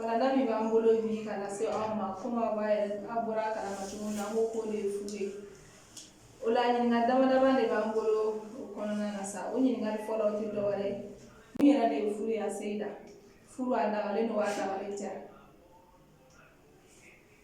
Walanda min b'an bolo bi ka lase aw ma komi aw yɛrɛ aw bɔra a kalama cogo min na an ko k'o de ye furu ye o la ɲininkali dama dama de b'an bolo o kɔnɔna na sa o ɲininkali fɔlɔ tɛ dɔ wɛrɛ ye mun yɛrɛ de ye furu ye a seyida furu a dagalen don wa a dagalen tɛ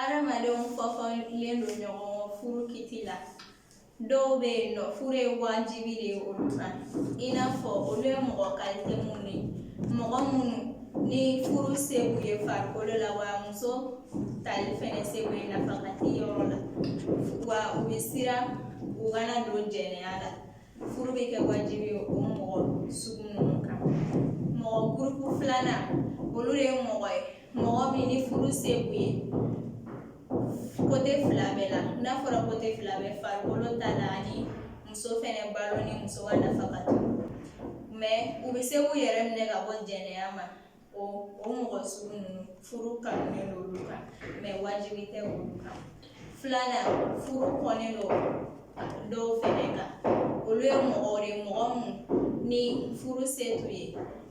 adamadenw fɔfɔlen don ɲɔgɔn kɔ furu kiti la dɔw bɛ yen nɔ furu ye wajibi de ye olu kan i n'a fɔ olu ye mɔgɔ kalite minnu ye mɔgɔ minnu ni furu se b'u ye farikolo la wa muso tali fɛnɛ se b'u ye nafakati yɔrɔ la wa u bɛ siran u kana don jɛnɛya la furu bɛ kɛ wajibi ye o mɔgɔ sugu ninnu kan mɔgɔ gurupu filanan olu de ye mɔgɔ ye mɔgɔ min ni furu se b'u ye kote fila bɛɛ la n'a fɔra kote fila bɛɛ farikolo ta la ani muso fɛnɛ balo ni muso ka nafakati mɛ u bɛ se k'u yɛrɛ minɛ ka bɔ jɛnɛya ma o o mɔgɔ sugu ninnu furu kanulen don olu kan mɛ wajibi tɛ olu kan filanan furu kɔnnen don dɔw fɛnɛ kan olu ye mɔgɔw de ye mɔgɔ mun ni furu se t'u ye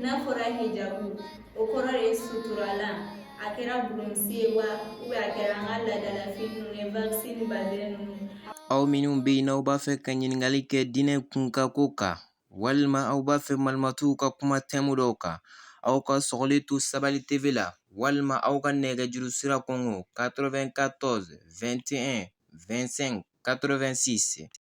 n'a fɔra hijabu o kɔrɔ de ye suturalan a kɛra bulonsi ye wa a kɛra an ka laadalafini ninnu ye wakisi ni bazɛn ninnu aw minnu bɛ yen n'aw b'a fɛ ka ɲininkali kɛ diinɛ kunkako kan walima aw b'a fɛ malimatuw ka kuma tɛmu dɔw kan aw ka sɔgɔli to sabali tv la walima aw ka nɛgɛjuru sira kɔngɔ 94 21 25 86